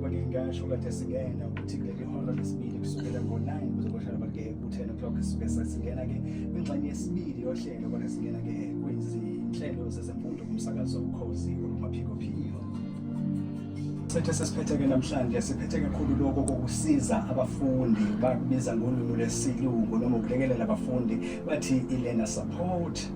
njengoba ngingasho kade singena ukuthi kuleli hora lesibili kusukela ngo-9 kuze kohlala bake ku-10 o'clock sisuke sesingena-ke kwingxenye yesibili yohlelo kodwa singena-ke kwizinhlelo zezemfundo kumsakazo ukhozi olumaphikophiko sethe sesiphethe-ke namhlanje siphethe kakhulu lokho kokusiza abafundi bakubiza ngolwimi lwesilungu noma ukulekelela abafundi bathi i-learner support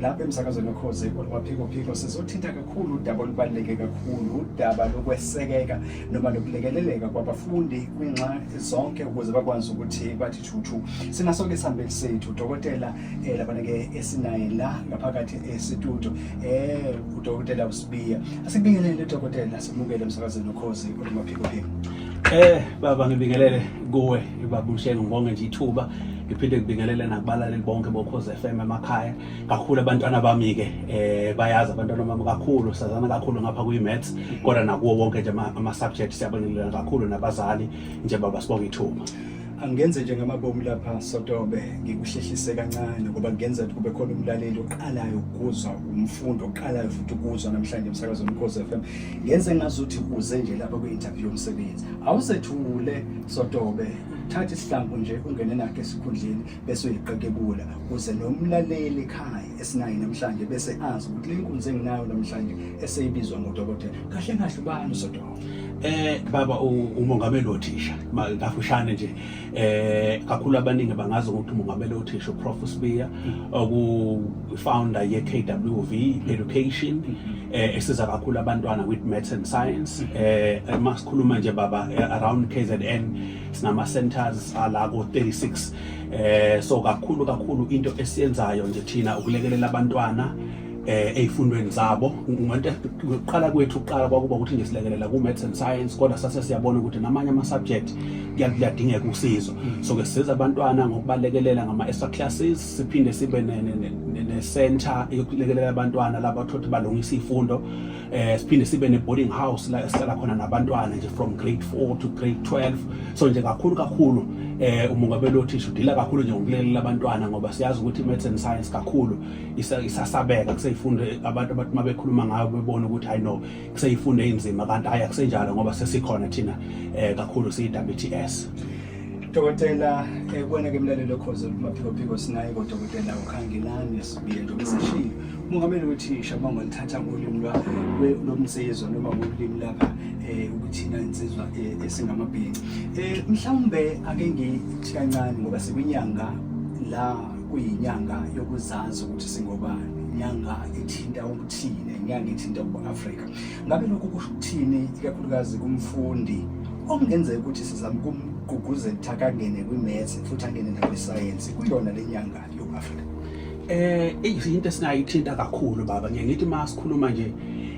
lapha emsakazweni okhoze olwaphikophiko sizothinta kakhulu udaba olubaluleke kakhulu udaba lokwesekeka noma lokulekeleleka kwabafundi kwinxa zonke ukuze bakwazi ukuthi bathi thuthu sinaso-ke isihambeli sethu udokotela um eh, labana-ke esinaye la ngaphakathi esitudio um eh, udokotela usibiya asibingelele udokotela simukele emsakazweni okhoze olwaphikophiko um eh, baba ngibingelele kuwe babumshenge ngibonge nje ithuba ngiphinde ngibingelele nakubalaleli bonke bokhozi FM emakhaya kakhulu abantwana bami-ke eh bayazi abantwana bami kakhulu sazana kakhulu ngapha kwi-maths kodwa nakuwo wonke nje ama-subject siyabingelela kakhulu nabazali nje baba sibonga ithuba angenze nje ngamabomu lapha sotobe ngikuhlehlise kancane ngoba kungenza ukuthi kube khona umlaleli oqalayo ukuzwa umfundo oqalayo futhi ukuzwa namhlanje emsakazo omkhosi FM ngenze ngazuthi uze nje lapha kwi-interview yomsebenzi awusethule sotobe thatha isihlambo nje ungene nakhe esikhundleni bese uyiqekebula kuze nomlaleli ekhaya esinayo namhlanje bese azi ukuthi le nkunzi enginayo namhlanje eseyibizwa ngodokotela kahle kahle ubani usodokotela eh baba umongameli othisha kafushane nje eh kakhulu abaningi bangazi ukuthi umongameli othisha uprof Sibiya oku founder ye KWV Education mm-hmm. eh, esiza kakhulu abantwana with maths and science mm-hmm. eh uma sikhuluma nje baba eh, around KZN sinama centers ala ko 36 eh so kakhulu kakhulu into esiyenzayo nje thina ukulekelela abantwana eh ezifundweni zabo ngonto ukuqala kwethu uqala kwakuba ukuthi nje silekelela ku maths and science kodwa sase siyabona ukuthi namanye ama subject kuyadingeka usizo mm. so ke siza abantwana ngokubalekelela ngama extra classes siphinde sibe ne-center yokulekelela abantwana laba thothi balungisa iy'fundo um eh, siphinde sibe ne-boarding house la esihlala khona nabantwana nje from grade four to grade twelve so nje kakhulu kakhulu um umongameli othisha udila kakhulu nje ngokulekelela abantwana ngoba siyazi ukuthi i-maths and science kakhulu isasabeka kusey'fundo abantu abantu uma bekhuluma ngayo bebona ukuthi hayi no kuseyifunda eyinzima kanti hayi akusenjalo ngoba sesikhona thina eh kakhulu siyi-WTS Dokotela ekubona eh, ke mlaleli okhoze kumaphikophiko sinaye kodokotela uKhangelani sibiye njengoba sishilo umongameli wethi Shabango lithatha ulimi lwa lomsizwa noma ulimi laba eh ukuthina insizwa eh, esingamabhinci eh mhlawumbe ake ngithi kancane ngoba sikwinyanga la kuyinyanga yokuzazi ukuthi singobani inyanga ethinta thine ngangithinta ku-afrika ngabe lokhu kusho ukuthini ikakhulukazi kumfundi okungenzeka ukuthi sizama ukumgqugquzela ukuthi akangene kwi-maths futhi angene nakwisayensi kuyona le nyanga yoku-afrika eh into esingayithinta kakhulu baba ngiye ngithi uma sikhuluma nje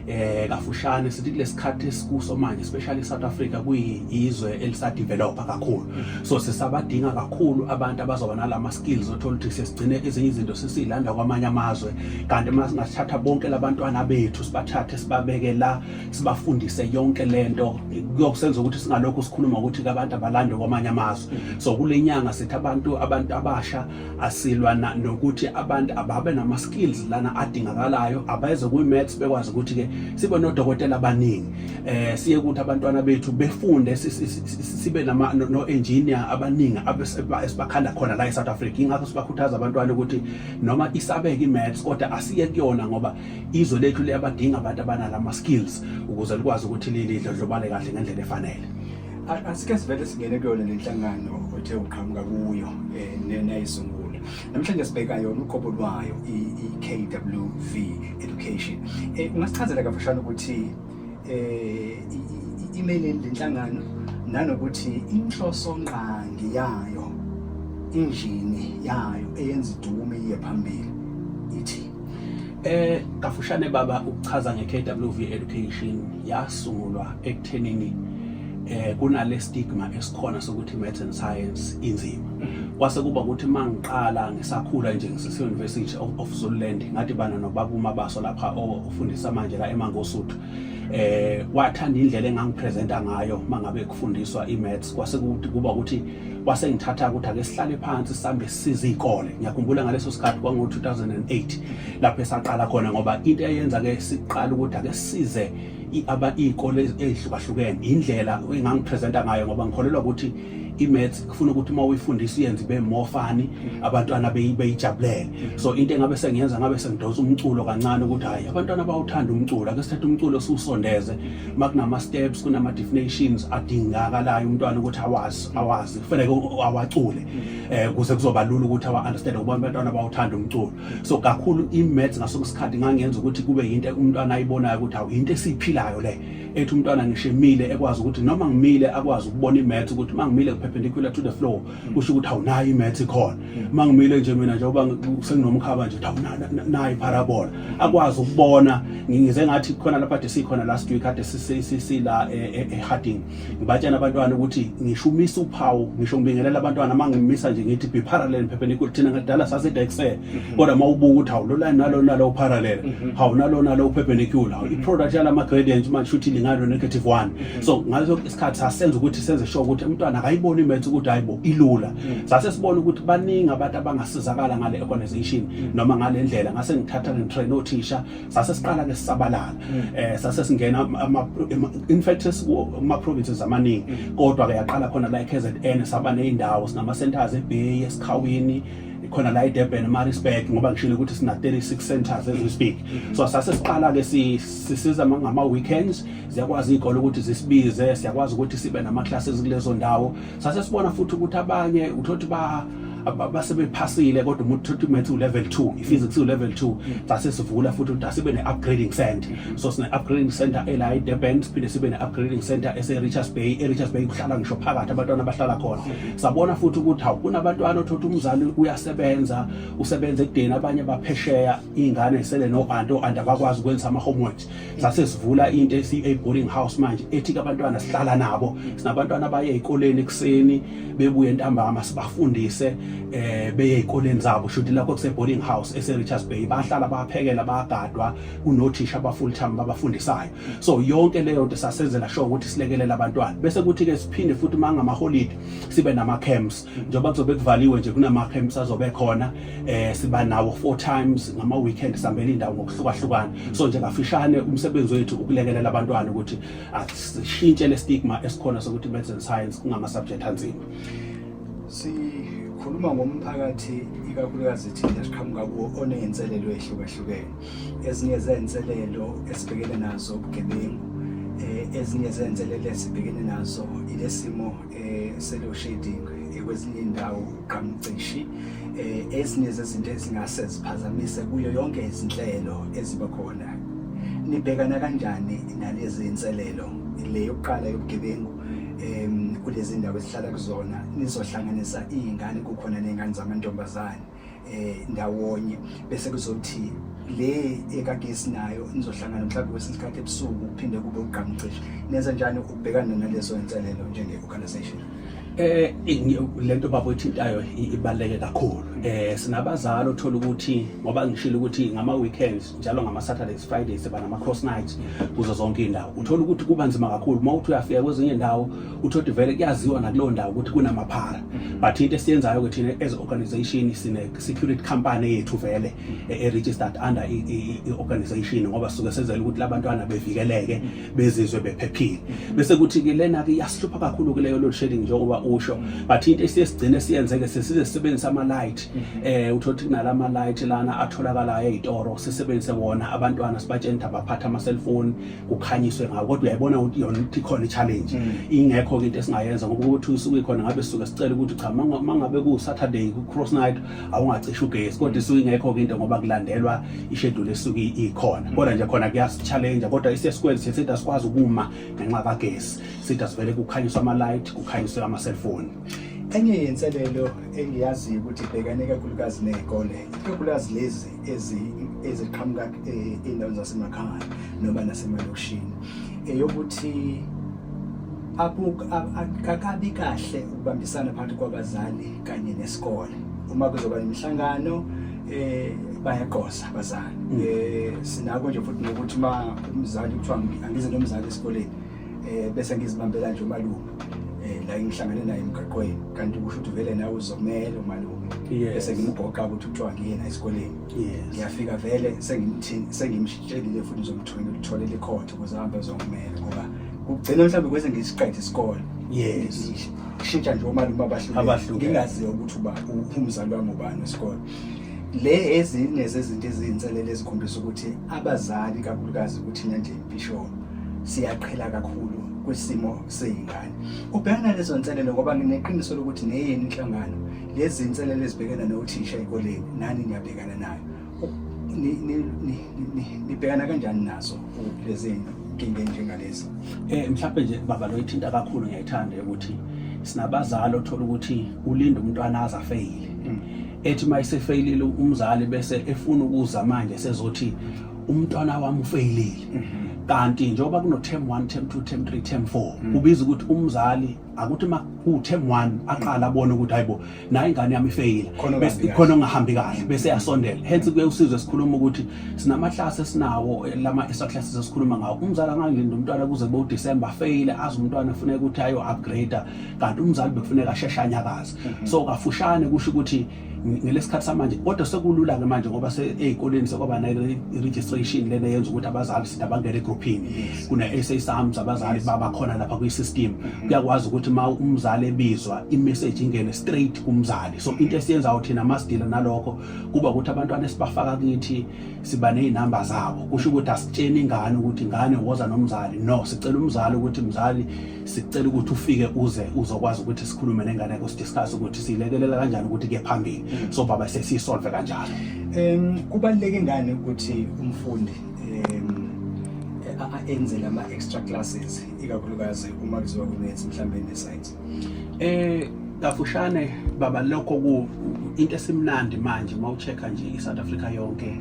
eh kafushane sithi kulesikhathi esikuso manje especially South Africa kuyizwe elisadevelopa kakhulu so sisabadinga kakhulu abantu abazoba nalama skills othola ukuthi sesigcine izinye izinto sesilanda kwamanye amazwe kanti uma singathatha bonke labantwana bethu sibathathe sibabeke la sibafundise yonke lento kuyokusenza ukuthi singalokhu sikhuluma ukuthi abantu abalande kwamanye amazwe mm-hmm. so kule nyanga sithi abantu abantu abasha asilwa nokuthi abantu ababe nama skills lana adingakalayo abayeze kwi maths bekwazi ukuthi ke sibe nodokotela abaningi eh siye ukuthi abantwana bethu befunde sibe nama no engineer abaningi abesibakhanda khona la e South Africa ingakho sibakhuthaza abantwana ukuthi noma isabeke imaths kodwa asiye kuyona ngoba izwe lethu liyabadinga abantu abanala ama skills ukuze likwazi ukuthi lidlodlobale kahle ngendlela efanele asike sivele singene kuyona le nhlangano othe uqhamuka kuyo um nayisungula namhlanje sibheka yona uqobo lwayo i-kwv education um ungasichazela kafishane ukuthi eh imele lenhlangano nanokuthi inhloso ngqangi yayo injini yayo eyenza idume iye phambili ithi eh kafushane baba ukuchaza ngeKWV education yasungulwa ekuthenini eh kunale stigma esikhona sokuthi maths and science inzima mhm. kwase kuba ukuthi mangiqala ngisakhula nje ngisese university of Zululand ngathi bana nobaba umabaso lapha fundisa manje la eMangosuthu eh wathanda indlela engangipresenta ngayo mangabe kufundiswa imaths kwase kuthi kuba ukuthi wase ngithatha ukuthi ake sihlale phansi sambe size izikole ngiyakhumbula ngaleso sikhathi kwango 2008 lapho esaqala khona ngoba into eyenza ke siqala ukuthi ake size aba izikole ezihlukahlukene indlela engangipresenta ngayo ngoba ngikholelwa ukuthi imaths kufuna ukuthi uma uyifundisa uyenze ibe more funny mm. abantwana beyijabulele mm. so into engabe sengiyenza ngabe sengidonsa umculo kancane ukuthi hayi abantwana bawuthanda umculo ake sithathe umculo siwusondeze uma kunama steps kunama definitions adingakalayo umntwana ukuthi awazi mm. awazi kufanele awacule eh kuze kuzoba lula ukuthi awa understand ukuba abantwana bawuthanda umculo so kakhulu i maths ngaso isikhathi ngangenza ukuthi kube yinto umntwana ayibonayo ukuthi awuyinto esiphilayo le ethi umntwana ngisho emile ekwazi ukuthi noma ngimile akwazi ukubona imath ukuthi uma ngimile perpendicular to the floor mm. kusho ukuthi awunayo imath ikhona mm. uma ngimile nje mina njengoba senginomkhaba nje awunayo ipharabola mm. akwazi ukubona ngize ngathi khona lapha de sikhona last week kade sisila e, e, eharding ngibatshena abantwana ukuthi ngisho umisa uphawu ngisho ngibingelela abantwana uma ngimisa nje ngithi be parallel perpendicular thina ngadala sase dexel mhm. kodwa uma ubuka ukuthi hawu lolani nalo nalo parallel mhm. hawu nalo nalo perpendicular hawu mhm. i-product yalama gradient manje shuthi lingalo negative 1 so ngaso isikhathi sasenza ukuthi senze sure ukuthi umntwana akayiboni imaths ukuthi hayibo ilula sase sibona ukuthi baningi abantu abangasizakala ngale organization noma ngale ndlela ngase ngithatha ngitrain othisha sase siqala ke sisabalala eh sase singena ama in fact ama provinces amaningi kodwa ke yaqala khona la eKZN saba nezindawo sinama centers eBay esikhawini khona la eDurban Maritzburg ngoba ngishilo ukuthi sina 36 centers as we speak so sase siqala ke sisiza ngama weekends ziyakwazi igolo ukuthi zisibize siyakwazi ukuthi sibe nama classes kulezo ndawo sase sibona futhi ukuthi abanye uthothi ba basebephasile kodwa umuntu uthothi math u level 2 iphysics u level 2 sase sivula futhi ukuthi asibe ne upgrading center so sine upgrading center ela eDurban siphinde sibe ne upgrading center ese Richards Bay e Richards Bay kuhlala ngisho phakathi abantwana abahlala khona sabona futhi ukuthi hawu kunabantwana othothi umzali uyasebenza usebenza ekudeni abanye baphesheya iy'ngane zisele no-anti o-anti abakwazi ukwenza ama-homeworks sase sivula into esiyi-boarding house manje ethi-ke abantwana sihlala nabo sinabantwana abaye ey'koleni ekuseni bebuye ntambama sibafundise um beye ey'koleni zabo shuthi lakho kuse-boarding house ese-richards bay bahlala baphekela bayagadwa kunothisha aba-full time babafundisayo so yonke leyo nto sasenzela sure ukuthi silekelela abantwana bese kuthi ke siphinde futhi uma ngamaholide sibe nama-camps njengoba kuzobe kuvaliwe nje kunama-camps azobe khona eh siba nawo four times ngama-weekend sihambela indawo ngokuhlukahlukana so nje kafishane umsebenzi wethu ukulekelela abantwana ukuthi asishintshe le stigma esikhona sokuthi maths and science kungama-subject anzima sikhuluma ngomphakathi ikakhulukazi thina siqhamuka kuwo oney'nselelo ey'hlukahlukene ezinye zey'nselelo esibhekene nazo ubugebengu eh, ezinye zey'nselelo esibhekene nazo ile simo eh, se-load shedding eh, kwezinye iy'ndawo uqamucishi um ezinye zezinto ezingase ziphazamise kuyo yonke izinhlelo eziba khona nibhekana kanjani nalezi iy'nselelo le yokuqala yobugebengu um kulezi ndawo esihlala kuzona nizohlanganisa iy'ngane kukhona ney'ngane zamantombazane eh ndawonye bese kuzothi le ekade sinayo nizohlangana mhlawumbe kwesinye isikhathi ebusuku kuphinde kube ugqamcishe nenza njani ukubhekana nalezo inselelo njenge-organisation eh lento baba oyithintayo ibaleke kakhulu eh sinabazali othola ukuthi ngoba ngishilo ukuthi ngama weekends njalo ngama-saturdays fridays siba nama-cross nights kuzo zonke iy'ndawo uthole ukuthi kuba nzima kakhulu uma uthi uyafika kwezinye ndawo uthoti vele kuyaziwa nakuleyo ndawo ukuthi kunamaphara but into esiyenzayo-ke thina as organization sine-security company yethu vele e-registered under i-organization ngoba suke senzela ukuthi labantwana bevikeleke bezizwe bephephile bese kuthi-ke lena-ke iyasihlupha kakhulu-ke leyo load shedding njengoba usho but into esiye sigcine siyenzeke sesize sisebenzisa ama-light eh uthothi kunalama light lana atholakalayo ezitoro sisebenzise wona abantwana sibatshene ukuthi abaphatha ama cellphone kukhanyiswe ngawo kodwa uyayibona ukuthi yona ukuthi khona i challenge mm. ingekho into esingayenza ngoba ukuthi usuke khona ngabe suke sicela ukuthi cha mangabe ku Saturday ku cross night awungacisha ugesi kodwa isuke ingekho into ngoba kulandelwa i schedule esuke ikhona kodwa nje khona kuyasi challenge kodwa ise square sithi asikwazi ukuma ngenxa kagesi sithi asivele kukhanyiswa ama light kukhanyiswe ama cellphone enye yenselelo engiyaziyo ukuthi ibhekane kakhulukazi ney'kole ikakhulukazi lezi eziqhamuka eh, ey'ndaweni zasemakhaya noma nasemalokishini eyokuthi akakabi kahle ukubambisana phakathi kwabazali kanye nesikole uma kuzoba nemihlangano eh bayaqosa abazali mm. eh sinako nje futhi nokuthi uma umzali kuthiwa angize nomzali esikoleni eh bese ngizibambela nje umalume eh la ngihlangane naye emgaqweni kanti kusho ukuthi vele nawe uzomela umalume bese ngimgoqa ukuthi kuthiwa ngiyena esikoleni ngiyafika vele sengimthini sengimshitshelile futhi ngizomthumela uthole likhotho ukuze ahambe ezongimela ngoba kugcina mhlawumbe kwese ngisiqede isikole yes kushintsha nje omalume abahlukile ngingaziyo ukuthi uba umzali wami ubani wesikole le ezinye zezinto eziyinselele ezikhombisa ukuthi abazali kakhulukazi kuthina nje bisho siyaqhela kakhulu kwisimo seyingane ubhekana lezo nselelo ngoba ngineqiniso lokuthi neyeni inhlangano lezi nselelo ezibhekana nothisha ekoleni nani niyabhekana nayo nibhekana kanjani nazo izinkinga enjengalezi eh mhlawumbe nje baba lo ithinta kakhulu ngiyayithanda ukuthi sinabazali othola ukuthi ulinda umntwana aze afeyile mm. ethi uma isefeyilile umzali bese efuna ukuza manje sezothi umntwana wami ufeyilile mm-hmm. kanti njengoba kuno term 1 term 2 term 3 term 4 mm. kubiza ukuthi umzali akuthi uma ku term 1 aqala abone ukuthi hayibo nayo ingane yami ifeyila khona ongahambi kahle bese yasondela hence kuye usizwe sikhuluma ukuthi sinamahlase esinawo eh, lama extra classes esikhuluma ngawo umzali angalinda umntwana kuze kube uDecember afeyile azi umntwana funeka ukuthi ayo upgrade kanti umzali bekufuneka asheshe anyakaze mhm. so kafushane kusho ukuthi ngelesikhathi samanje kodwa sekulula ke manje ngoba seyikoleni sekwaba nayo registration lena yenza ukuthi abazali sida bangene egrouphini kuna-sa sams abazali babakhona lapha kwi-system mm-hmm. kuyakwazi ukuthi uma umzali ebizwa imessage ingene straight kumzali so into esiyenzayo thina masidila nalokho kuba ukuthi abantwana esibafaka kithi siba nezinamba zabo kusho ukuthi asitsheni ingane ukuthi ingane woza nomzali no sicela umzali ukuthi mzali sicela ukuthi ufike uze uzokwazi ukuthi sikhulume nengane yakho sidiscuss ukuthi siyilekelela kanjani ukuthi ke phambili mm. so baba sesiyisolve kanjalo um kubaluleke ngani ukuthi umfundi enze lama extra classes ikakhulukazi uma kuziwa kunethi mhlambe ne science eh kafushane baba lokho ku into esimnandi manje uma uchecka nje iSouth Africa yonke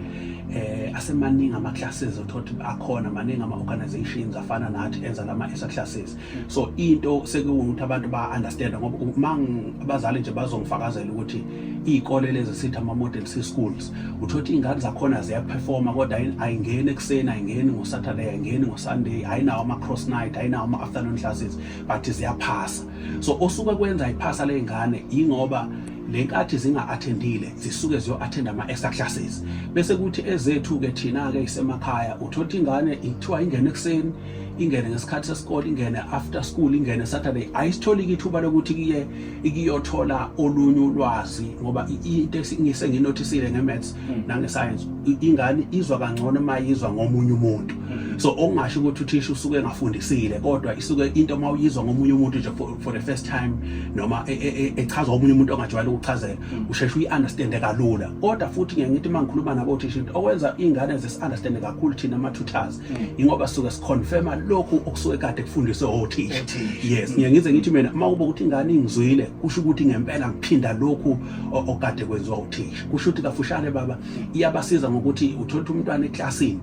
eh asemaningi ama classes othothi akhona maningi ama organizations afana nathi enza lama extra classes so into sekuwukuthi abantu ba-understanda ngoba uma abazali nje bazongifakazela ukuthi iy'kole lezi sithi ama-model c schools utho ukuthi iy'ngane zakhona ziyaphefoma kodwa ayingeni ekuseni ayingeni ngosaturday ayingeni ngosunday ayinawo ama-cross night ayinawo ama-afternoon classes but ziyaphasa so osuke kwenza iphasa ley'ngane yingoba le nkathi zinga-athendile zisuke ziyo-athenda ama-extra classes bese kuthi ezethu-ke thina-ke isemakhaya utho ukuthi ingane ithiwa ingene ekuseni ingene ngesikhathi sesikole ingene after school ingene saturday ayisitholiki ithuba lokuthi kiye ikiyothola olunye ulwazi ngoba into ngise nginothisile ngemaths mm. nangescience ingane izwa kangcono uma yizwa ngomunye umuntu mm. so okungasho ukuthi uthisha usuke engafundisile kodwa isuke into uma uyizwa ngomunye umuntu nje for the first time noma e, e, e, echazwa omunye umuntu ongajwayele ukuchazela mm. usheshe uyi-understande kalula kodwa futhi ngiye ngithi uma ngikhuluma nabo uthisha okwenza iy'ngane zisi-understande kakhulu thina ama-tutors ingoba suke siconfirma lokhu okusuke kade kufundiswe othisha yes ngiye ngize ngithi mina uma kuba ukuthi ingane ingizwile kusho ukuthi ngempela ngiphinda lokhu okade kwenziwa uthisha kusho ukuthi kafushane baba iyabasiza ngokuthi uthola umntwana eklasini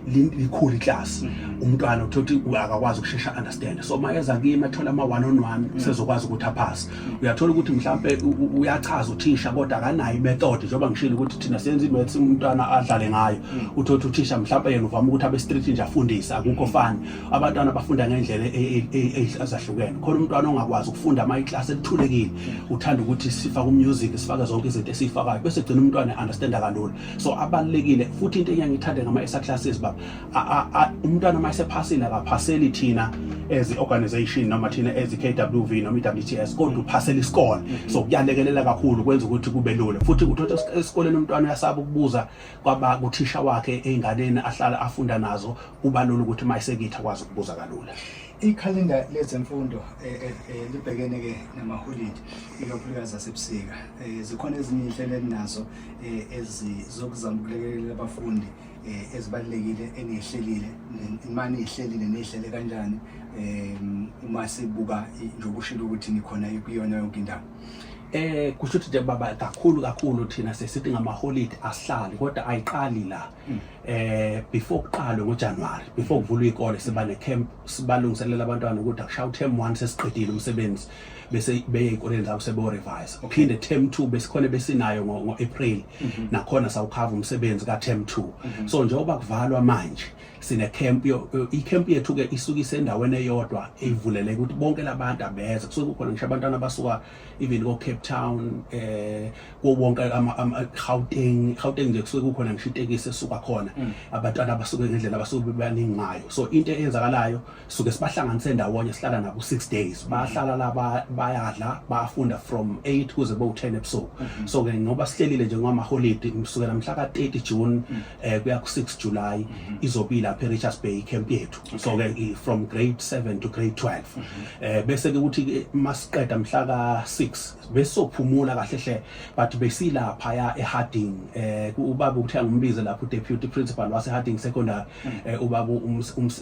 mm. likhulu iklasi mm-hmm. umntwana uthola akakwazi ukushesha understand so mayeza kimi athola ama one on one mm. sezokwazi ukuthi aphase uyathola ukuthi mhlampe uyachaza uthisha kodwa akanayo imethod njengoba ngishilo ukuthi thina senza imaths umntwana adlale ngayo hmm. uthotha uthisha mhlampe yena uvama ukuthi abe street nje afundise akukho hmm. fani abantwana bafunda ngendlela e, e, e, ezahlukene khona umntwana ongakwazi ukufunda ama iclass elithulekile hmm. uthanda ukuthi sifake umusic sifake zonke izinto esifakayo bese gcina umntwana understand kalula so abalekile futhi into engiyangithanda ngama esa classes baba umntwana uma esephasile akaphaseli thina as i-organization noma thina as i-kwv noma i-wts kodwa uphasela isikole mm-hmm. so kuyalekelela kakhulu kwenza ukuthi kube lula futhi uthola esikoleni umntwana uyasaba ukubuza kwaba kuthisha wakhe ey'nganeni ahlala afunda nazo kuba lula ukuthi uma esekithi akwazi ukubuza kalula ikhalenda lezemfundo eh, eh, eh, libhekene ke namaholidi ikakhulukazi asebusika zikhona ezinye iy'nhlelo elinazo ezizokuzama ukulekelela abafundi eh, ezibalulekile eniyihlelile uma niyihlelile niyihlele kanjani um uma sibuka njengoba ushilo ukuthi nikhona kuyona yonke indawo eh kusho ukuthi nje baba kakhulu kakhulu thina sesithi ngamaholide asihlali kodwa ayiqali la hmm. eh before kuqalwe ngoJanuary before kuvulwa ikole siba ne camp sibalungiselela abantwana ukuthi akushawu term 1 sesiqedile umsebenzi bese beye ey'koleni zabo sebeyorevise phinde term two besikhona besinayo ngo-april mhm. nakhona sawukhava umsebenzi ka-term two mhm. so njengoba kuvalwa manje sinecamp icamp yethu-ke isuke isendaweni eyodwa eyivuleleke ukuthi bonke labantu abeze kusuke kukhona ngisho abantwana abasuka even ko-cape town um eh, kuwo wonke gauteng gauteng nje kusuke kukhona ngisho itekisi esuka khona mm. abantwana abasuke ngendlela abasuke bebaningi ngayo so into eyenzakalayo suke sibahlanganise ndawonye sihlala nabo six days bahlala la bayadla bafunda from 8 kuze bo 10 ebusuku mhm. so ke ngoba sihlelile nje ngama holiday kusukela mhla ka 30 June mhm. eh kuya ku 6 July mhm. izobila lapha eRichards Bay camp yethu so ke from grade 7 to grade 12 eh bese ke ukuthi masiqeda mhla ka 6 besophumula kahle hle but besilapha ya eHarding eh ubaba ukuthi angimbize lapho deputy principal wase Harding secondary hmm. eh, ubaba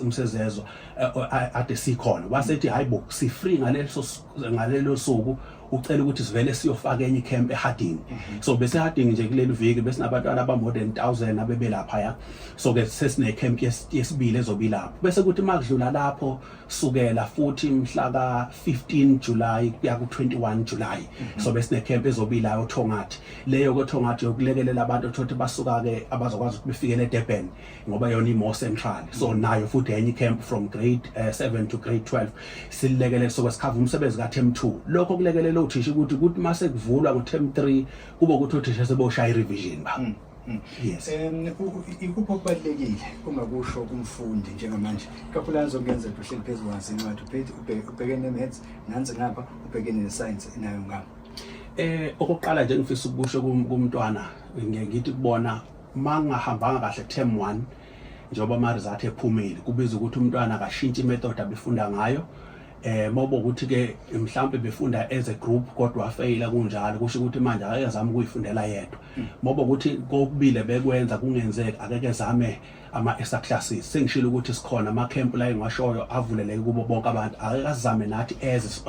umsezezwa eh, ade sikhona wasethi hayi bo si free ngaleso ngalelo suku ucela ukuthi sivele siyofaka enye camp eHarding mhm. so bese Harding nje kuleli viki bese nabantwana aba more than 1000 abebelapha ya so ke sesine camp yesibili ezobilapha bese kuthi makudlula lapho sukela futhi mhla ka-15 July kuya ku-21 July mhm. so besine camp ezobila oThongathi leyo koThongathi yokulekelela abantu othothi basuka ke abazokwazi ukuthi befikele eDurban ngoba yona imore central so mhm. nayo futhi enye camp from grade 7 eh, to grade 12 silekelele so kwesikhava umsebenzi ka term 2 lokho kulekelela uthisha ukuthi ukuthi mase kuvulwa ngo term 3 kube ukuthi uthisha seboshaya revision ba mhm. Mm. Yes. Um ikuphi okubalulekile uma kusho kumfundi njengamanje kakhulukazi okuyenzela uhleli phezu kwansi incwadi uphethe ubhekene ne-maths nansi ngapha ubhekene ne-science nayo ngapha eh okokuqala nje ngifisa ukusho kumntwana ngeke ngithi kubona mangahambanga kahle term 1 njengoba ama result ephumile kubiza ukuthi umntwana akashintshe imethod abefunda ngayo eh mobo ukuthi ke mhlawumbe befunda as a group kodwa afeyila kunjalo kusho ukuthi manje akeke zama ukuyifundela yedwa mm. mobo ukuthi kokubile bekwenza kungenzeki akeke zame ama extra classes sengishilo ukuthi sikhona ama camp la engashoyo avuleleke kubo bonke abantu akeke azame nathi as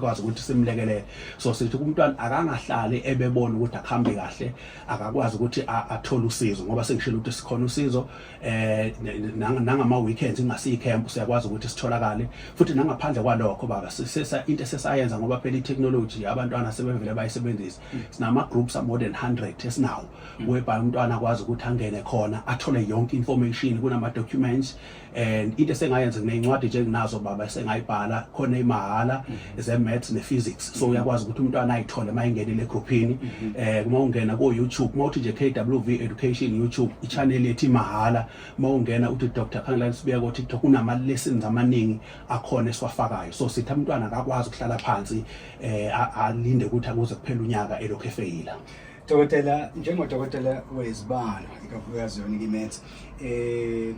kwazi ukuthi simlekelele so sithi kumntwana akangahlali ebebona ukuthi akuhambe kahle akakwazi ukuthi athole usizo ngoba sengishilo ukuthi sikhona usizo eh nangama weekends ingasiyi camp siyakwazi ukuthi sitholakale futhi nangaphandle kwalokho baba sisesa into sesayenza ngoba phela itechnology abantwana sebevele bayisebenzisa sinama groups more than 100 esinawo whereby umntwana akwazi ukuthi angene khona athole yonke information kunama documents and into esengayenza nginencwadi nje nginazo baba esengayibhala khona imahala zemaths ne-physics so uyakwazi ukuthi umntwana ayithole uma engenile egruphini um mhm. eh, uma ungena ko-youtube uma uthi nje k w v education youtube i-channel ethi mahhala uma ungena uthi dr khangelani sibuya ko-tiktok kunama-lessons amaningi akhona esiwafakayo so sithi umntwana akakwazi ukuhlala phansi um alinde ukuthi akuze kuphela unyaka elokhu efeyila dokotela njengodokotela wezibalo ikakhulukazi yona ikimaths um eh,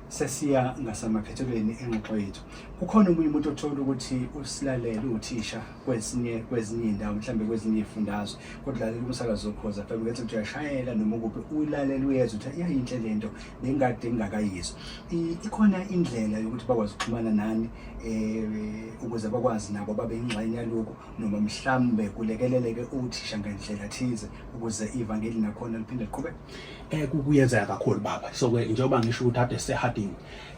sesiya ngasamaphethelweni engxoxo yethu kukhona omunye umuntu othola ukuthi usilalele uthisha kwesinye kwezinye indawo mhlambe kwezinye ifundazwe kodwa lalela umsakazo okhoza phela ukuthi uyashayela noma ukuphi uyilalela uyezwa ukuthi iyayinhle lento bengade ngingakayizwa ikhona indlela yokuthi bakwazi ukuxhumana nani eh ukuze bakwazi nabo babe ingxenye yaloko noma mhlambe kulekeleleke uthisha ngendlela thize ukuze ivangeli nakhona liphinde liqhubeke eh kuyenzeka kakhulu baba so ke njengoba ngisho ukuthi ade seharding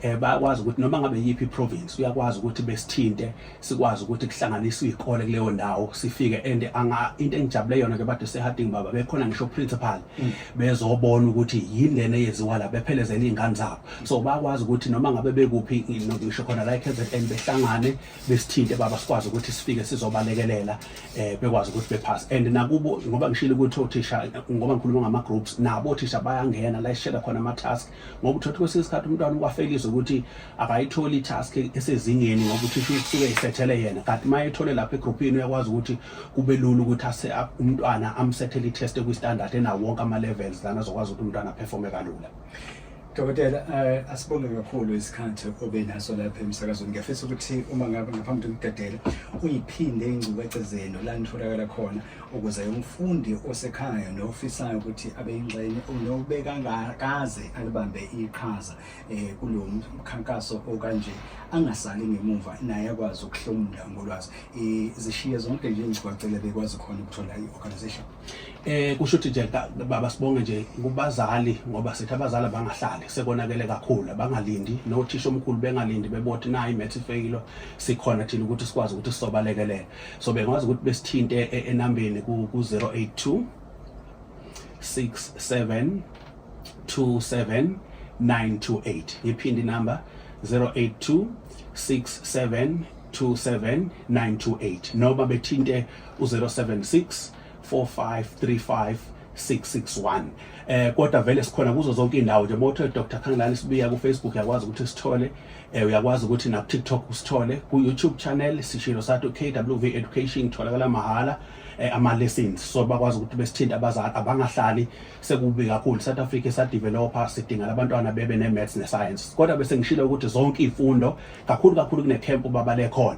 eh bayakwazi ukuthi noma ngabe yiphi province uyakwazi ukuthi besithinte sikwazi ukuthi kuhlanganiswe izikole kuleyo ndawo sifike and anga into engijabule yona ke bade seharding baba bekhona ngisho principal mm. bezobona ukuthi yini lena eyenziwa la bephelezela izingane zabo so bayakwazi ukuthi noma ngabe bekuphi ngisho khona la eKZN behlangane besithinte baba sikwazi ukuthi sifike sizobalekelela eh bekwazi ukuthi bephase and nakubo ngoba ngishilo ukuthi othisha ngoba ngikhuluma ngama groups nabo othisha bayangena la ishela khona ama task ngoba uthothi kwesinye isikhathi umntwana ukwafekizwe ukuthi akayitholi task esezingeni ngoba uthisha usuke isethele yena kanti maye ethole lapha egroupini uyakwazi ukuthi kube lula ukuthi ase umntwana amsethele i test kwi standard ena wonke ama levels lana azokwazi ukuthi umntwana performe kalula Dokotela uh, asibonge kakhulu isikhathi obe naso lapha emsakazweni ngiyafisa ukuthi uma ngabe ngaphambi kokudedela uyiphinde ingcubece zenu la nitholakala khona ukuze umfundi osekhaya nofisayo ukuthi abe yingxenye nobekangakaze alibambe iqhaza eh, kulo mkhankaso okanje angasali ngemuva naye akwazi ukuhlomula ngolwazi eh, zishiye zonke nje ingcibacele bekwazi khona ukuthola i-organization Eh kusho ukuthi nje baba sibonge nje kubazali ngoba sithi abazali abangahlali sekonakele kakhulu abangalindi nothisha omkhulu bengalindi bebothi nayi math ifeyilo sikhona thina ukuthi sikwazi ukuthi sisobalekelela so bengwazi ukuthi besithinte e, e, enambeni ku 082 67 27 928 ngiphindi number 082 67 27928 noma bethinte u-076 4535 661 eh kodwa vele sikhona kuzo zonke indawo nje motho Dr Khangelani sibiya ku Facebook yakwazi ukuthi sithole eh uyakwazi ukuthi na TikTok usithole ku YouTube channel sishilo sathu KWV Education tholakala mahala eh, ama lessons so bakwazi ukuthi besithinta abazali abangahlali sekubi kakhulu South Africa sa developer sidinga abantwana bebe ne maths ne science kodwa bese ngishilo ukuthi zonke izifundo kakhulu kakhulu kune camp baba lekhona